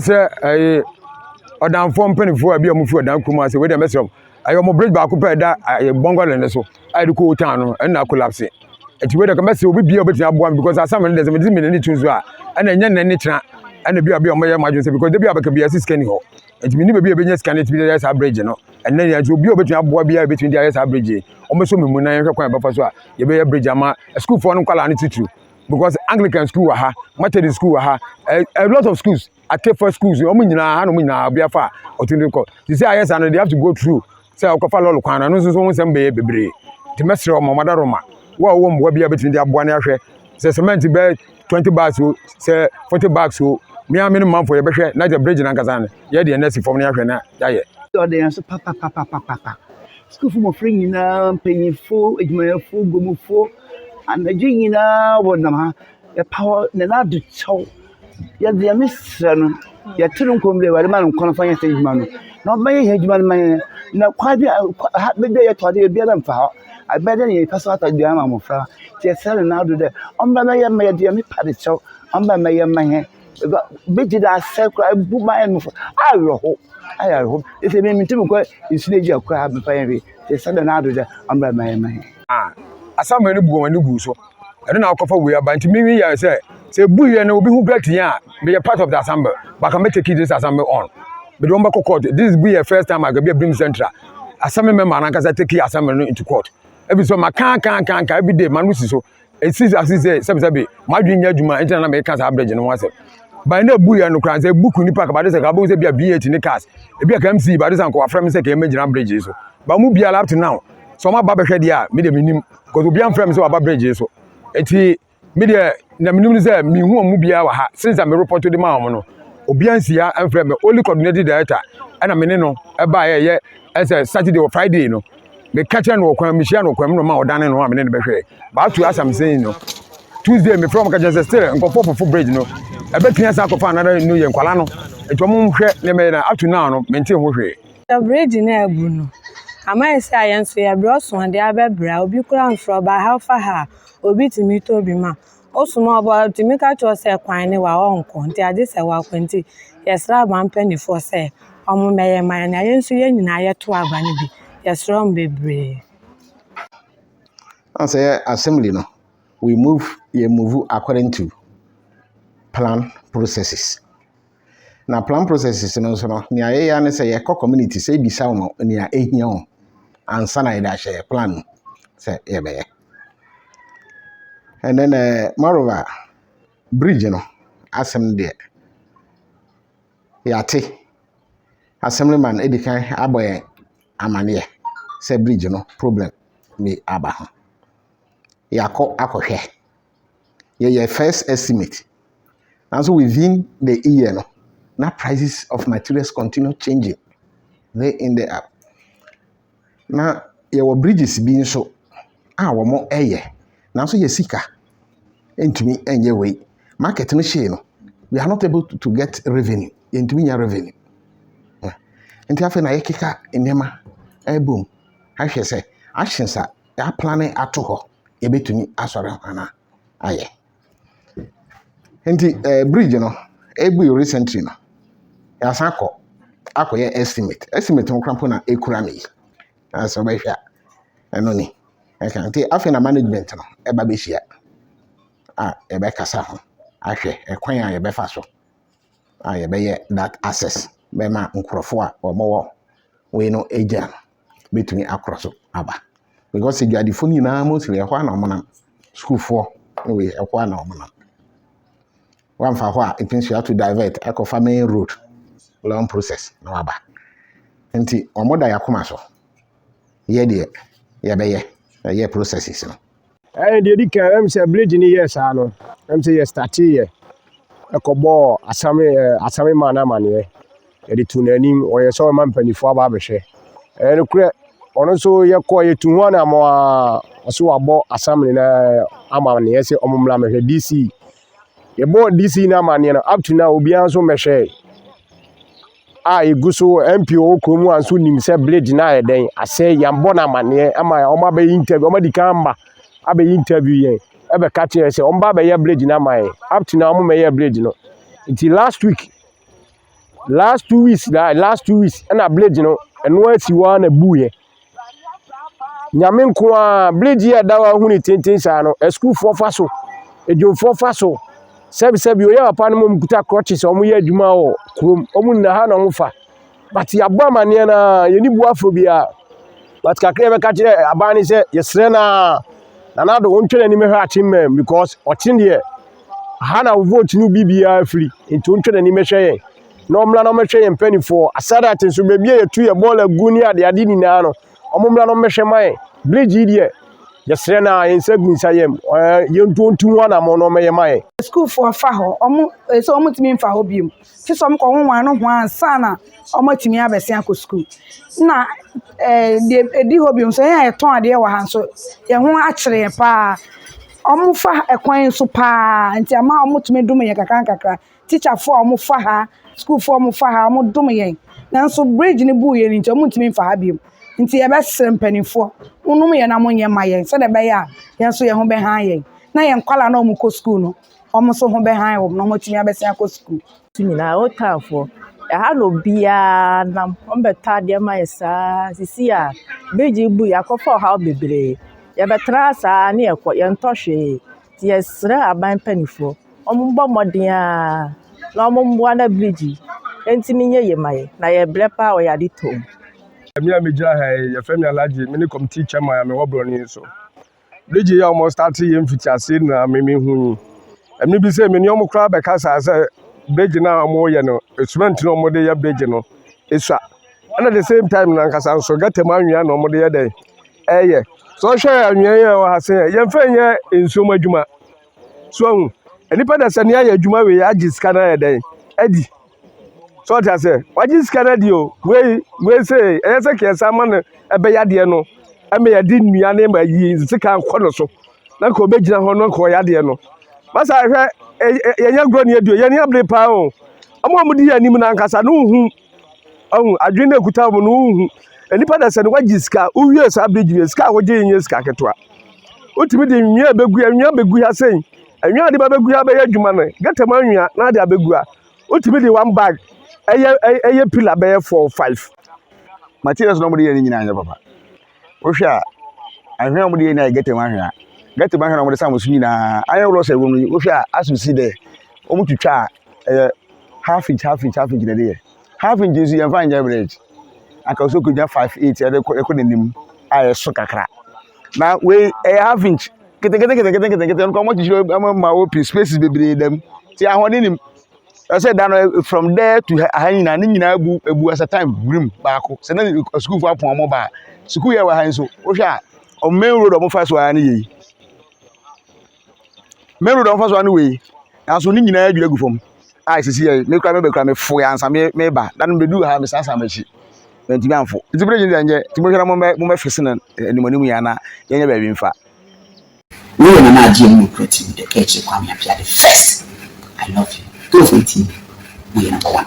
sɛ ɛyɛ ɔdanfoɔ mpanimfoɔ a bi a wɔfiri ɔdan kurom ase wei deɛ mɛsrɛ mo ɛyɛ wɔn bridge baako pɛ a ɛda ɛyɛ bɔngɔlɛn no so a yɛde kɔ old town no ɛna akolapse nti wei deɛ mɛsrɛ obi bia a obɛtumi aboa me because asɛm no deɛ sɛ mede mene ne tu so a ɛna ɛnyɛ nnɛ ne kyena ɛna bi a bi a wɔyɛ mo adwene sɛ because da bi a bɛka bi ɛsi sika ni hɔ nti mene baabi a ɛbɛnya sika no ɛtumi de ayɛ saa bridge no ɛnɛ yɛ nti obi a obɛtumi aboa bi a ɛbɛtumi de ayɛ saa bridge yi wɔmɛsɔ me mu na yɛhwɛ kwan a yɛbɛfa so a yɛbɛyɛ bridge ama sukuufoɔ no nkwadaa no titiriw because anglican school wɔ ha methodist school wɔ ha a, a lot of schools akefa schools wɔn nyinaa ha na wɔn nyinaa obi afa a ɔtumi de kɔ te sɛ ayɛ saa no they have to go through sɛ ɔkɔfa lɔɔre kwan no ɛno nso so ho nsɛm bɛyɛ bebree te mɛsrɛ wɔn mada roma wo a wɔwɔ mmoa bi a bɛtumi de aboa ne ahwɛ sɛ cement bɛɛ twenty bags o sɛ forty bags o mmea me ne manfo yɛbɛhwɛ na yɛ bridge nankasa no yɛ deɛ nɛsi fam no yɛahwɛ na yɛayɛ. ɔde yɛn so papapapapapa Sukuufo mmofra nyinaa, mpanyimfo, adwumayɛfo, gumufo, anadwo nyinaa wɔnam ha. Yɛpaw Nana Addo kyɛw. Yɛde Nyame srɛ no, yɛto no nkɔm dɛ Awurade ma no nkwa mfa nyɛ saa edwuma no, na ɔmmɛyɛ hɛn edwuma no mma hɛn. Na kwan bi a kwa ha bɛda yɛtɔ adze yɛ biara mmfa hɔ. Ɛbɛyɛ dɛ yɛrepɛ so atɔ aduan ama mbofra. Ntsi yɛsrɛ Nana Addo dɛ ɔmba mbɛyɛ mma yɛde Nyame pa de kyɛw, ɔmba mbɛyɛ mma hɛn. Because bɛgye dɛ asɛ koraa ɛbu m'ayɛ no fo awerɛho ayɛ awerɛho nti me mentumi nkɔ nsu no agya koraa mfa yɛ hwee nti sɛ dɛ n'ado dɛ ɔmmra ma yɛma yɛ. Ah asamoah no bu wɔn ani guu so ɛno na akɔfa wei aba nti mewi yɛ sɛ sɛ ebu yɛ no obi ho great yɛn a meyɛ part of the assembly but can me take this assembly on mede wɔn bɛkɔ court this bu yɛ first time agabi abim central assembly member no ankasa take assembly no into court ebi so ma kan kan kan kan every day ma no si so. ɛsi ase sɛ sɛbesɛbe m'adwene nyɛ adwuma nti na na meka saa bridge no ho asɛm ban na ebu yɛ no koraa sɛ ebu kuni park bade sɛ ka bɛhu sɛ bia bh ne cars ebi a ka mc bade sɛ nka wafrɛ me sɛ ka ɛmɛ gyina bridge so ba mu biara up to now sɛ ɔma ba bɛhwɛ deɛ a me deɛ menim because obi amfrɛ me sɛ waba bridge so ɛti me deɛ na menim no sɛ mehu wɔn mu biara wɔ ha since a me report de ma wɔn no obi ansi ha amfrɛ me only coordinated director ɛna me ne no ɛbaeɛ ɛyɛ ɛsɛ saturday or friday no meka kyerɛ no wɔ kwan mehyia no kwan mu na ɔma ɔdane no a mene no bɛhwɛ baatu asamsɛn yi no tuesday mefrɛ ɔmo ka kyerɛ sɛ still nkɔfoɔ fofo bridge no ɛbɛtumi asa akɔfa another no yɛ nkwala no nti ɔmo nhwɛ nneɛma yɛ na ato naa no mente ho hwee sɛ bridge no abu no ama yɛ sɛ ayɛ nso yɛbrɛ ɔso adeɛ abɛbrɛ a obi kora nsorɔba halfa ha a obi tumi tɔ bi ma Ɔsom ɔba a ɔtumi ka kyerɛ wo sɛ kwan ne wa ɔnkɔ nti agye sɛ wakɔ nti yɛsrɛ aba mpaninfoɔ sɛ ɔmo mɛyɛ ma yɛn na yɛn nso yɛn nyinaa yɛto aba no bi yɛsrɛ ɔmo bebree. Ɔn sɛ yɛ assembly no we move yɛ move according to plan processes. Na plan processes no nso no, nea yɛyɛ ara ne sɛ yɛkɔ community sɛ ebisa wɔn nea ehia wɔn ansa na yɛde ahyɛ yɛn plan mu sɛ yɛbɛyɛ. And then uh, moreover, bridge no asɛm deɛ yɛate assemblyman edi kan abɔ yɛn amaneɛ sɛ bridge no problem bi aba ho. Yɛakɔ akɔhwɛ yɛyɛ first estimate nanso within the year no na prices of materials continue changing day in day out na yɛwɔ bridges bi nso a wɔyɛ nanso yɛ sika ntumi nyɛ wei market no hyee no we are not able to get revenue yɛntumi nya revenue nti afei na yɛkeka nneɛma ɛbom ahwɛ sɛ actions a yɛaplane ato hɔ, yɛbɛtumi asɔre ho anaa ayɛ. Nti ɛɛ eh, bridge no ebui recently no, yɛasan kɔ akɔyɛ estimate. Estimate no koraa na ekura me yi. Na sɛ wobɛhwɛ a, ɛno ni. Ɛka nti afei na management no ɛba bɛhyia a yɛbɛkasa ho ahwɛ ɛkwan a yɛbɛfa so a yɛbɛyɛ that access bɛma nkurɔfoɔ a wɔwɔ wei no agya no. bɛtumi akora so aba because adwadifo no nyinaa mostly ɛhɔ a na wɔnam sukuufoɔ ne wei ɛhɔ a na wɔnam wamfa hɔ a it means you have to divert akɔfa main road long process na waba nti wɔn da yɛ akoma so yɛ deɛ yɛbɛyɛ ɛyɛ processes no. Ɛyɛ deɛ di kan ɛm sɛ village ni yɛ saa no ɛm sɛ yɛ starte yɛ ɛkɔbɔɔ asame ɛɛ asame maa no amaneɛ yɛde tu n'anim ɔyɛ sɛ ɔma mpanimfoɔ aba abɛhwɛ ɛyɛ no korɛ ɔno nso yɛkɔ yɛtu ho anamɔ a ɔso wabɔ asame no amaneɛ sɛ ɔmo mmra mɛhwɛ DC yɛbɔ DC no amaneɛ no up to now obiara nso mmɛhwɛɛ. a ɛgu so wɔ MP wɔ wo kurom a nso nim sɛ blade no ayɛ dɛn asɛ yɛabɔ no amanneɛ ama wɔn abɛyɛ interview wɔn adi kan ma abɛyɛ interview yɛn ɛbɛka kyerɛ sɛ wɔn ba abɛyɛ blade no ama yɛn up to now wɔn mɛyɛ blade no nti last week last two weeks last two weeks ɛna blade no ɛno asi hɔ ara na ɛbuiɛ. Nyame nko ara, bridge yi a ɛda hɔ a wohu no tenten saa no, asukuufoɔ fa so, adwumfoɔ fa so, sɛbesɛbe oyɛ papa no ma wɔkuta crutches a wɔyɛ adwuma wɔ kurom. Wɔnna ha na wɔfa. But yɛabɔ amanneɛ no ara, yɛnni bo afɔ biara. But kakra a yɛbɛka akyerɛ aban ne sɛ, yɛsrɛ no ara, Nana Addo wontwɛn anim hwɛ Akyemmɛn because ɔkye deɛ, ha na wo vote no bi biara firi, nti wontwɛn anim hwɛ yɛn. na wɔmmra na wɔmmɛhwɛ yɛn mpanimfoɔ. Aside that nso, baabi a yɛtu yɛ bɔɔl agu ne adeade nyinaa no, wɔmmra na wɔmmɛhwɛ ma yɛn. Bridge yi deɛ, yɛsrɛ no ara, yɛn nsa gu nsa yam. Ɛɛ, yɛn ntuo ntu ho anammɔn na wɔmmɛyɛ ma yɛn. Sukuufoɔ fa hɔ, wɔn, ɛyɛ sɛ wɔntumi mfa hɔ bio. Te sɛ wɔkɔ ho wɔn ano ho ansa na wɔatumi abɛsen akɔ sukuu. Na ɛɛ, deɛ ɛdi hɔ bio nso, yɛn a yɛtɔn adeɛ wɔ ha nso, yɛn ho akyere yɛn paa. Wɔfa ɛkwan so paa, nti ama wɔtumi dome yɛn nkakrankakra. teacherfoɔ a wɔfa ha, sukuufoɔ a wɔfa ha, wɔdom yɛn. Nanso bridge no buiɛ no nti, wɔntumi mfa ha bio. Nti yɛbɛsrɛ mpanimfoɔ, monnom yɛn na monyɛ mma yɛn sɛdeɛ ɛbɛyɛ a yɛn nso yɛn ho bɛhan yɛn, na yɛn nkwadaa no a wɔkɔ sukuu no, wɔn nso ho bɛhan wɔn na wɔatumi abɛsan akɔ sukuu. So nyinaa ɛwɔ townfoɔ ɛha na obiara nam wɔbɛtɔ adeɛ ma yɛ saa sisi a bridge yi buiɛ akɔfa ɔhaw bebree yɛbɛtra saa ne yɛkɔ yɛntɔ hwee. Yɛsrɛ aban mpaninfoɔ ɔmo bɔ mmɔden aa na ɔmo mmoa na bridge yi ɛntumi nyɛ yie ma yɛn na yɛbrɛ paa wɔ yɛn ade tɔ mu. Me a megyina ha yi, yɛfrɛ me Alhaji, mene committee chairman a mewɔ borɔno yi so. Bridge yi a wɔn starte yɛ mfitiaseɛ na me mehu yi. Ɛmɛ bi sɛ me ne wɔn koraa bɛkasa sɛ bridge no a wɔyɛ no, cement no a wɔde yɛ bridge no esua. ɛna the same time no ankasa nso gata mu anwea na wɔde yɛ dɛ ɛyɛ so ɔhwɛ anwea yi a ɛwɔ ha se yɛ yɛmfa nyɛ nsuo mu adwuma so ahu nipa da sɛ ne ayɛ adwuma wei agye sika no ayɛ dɛn adi so ɔte aseɛ wagye sika no adi o wei wei se ɛyɛ sɛ kɛɛ san ma no ɛbɛyɛ adeɛ no ɛma yɛde nnua ne ma yi sika kɔ no so na nka ɔbɛgyina hɔ no nka ɔyɛ adeɛ no masa hwɛ yɛnyɛ agorɔ ne aduo yɛne abere paa o ɔmo a ɔmo di yɛ anim no ankasa no hu ɔhu adwene na ekuta wɔn no wohu nipa na sɛ no wagye sika wowie saa bridge no sika a wogye nyɛ sika ketewa wotumi de nwia bɛgu nwia bɛgu ha sɛn nwia de ba bɛgu ha bɛyɛ adwuma no gata mu anwia na de abɛgu ha wotumi de one bag ɛyɛ ɛyɛ pillar bɛyɛ four five materials na wɔde yɛ ne nyinaa nyɛ papa Wohwɛ a, anhwea a wɔde yɛ nyinaa yɛ gɛta mu anhwea. Gɛta mu anhwea na wɔde sa wɔn so nyinaa. Iron rods a ɛwɔ mu yi, wohwɛ a, asɛ si dɛ wɔtwitwa a ɛyɛ half inch half inch half inch na ɛde yɛ. Half inch nso yɛmfa nyɛ bridge. Anka sɛ wokɔnya five eight ɛde kɔ ɛkɔ n'anim a ɛso kakra. Na wei ɛyɛ half inch keteketekete nketenkete nka wɔakyekyere ama ma open spaces bebree da mu nti ahoɔden nnim. ɛsɛ da no eh, from there to ha nyinaa ne nyinaa bu ebu as a time grim baako sɛ na sukuufo apɔn ɔmo baa sukuu yɛ wɔ ha nso wohwɛ a ɔmo main road ɔmo fa so ara ne yɛ yi main road ɔmo fa so ara ne wɔ yi nanso ne nyinaa adwiri agu fam a esisi yɛ me kura me bɛ kura me fo yɛ ansa me me ba dan me du ha me san san m'akyi mɛntumi anfo nti bere gyina nyɛ nti mo hwɛ na mo mɛ mo mɛ fese na anim anim yɛ ana yɛnyɛ baabi nfa. Wo yɛ nana adeɛ mu nokura tiri mu dɛ ɛkyere Kwame Apeade first I love you Ghanafoɔ ntie me wo yɛ number one.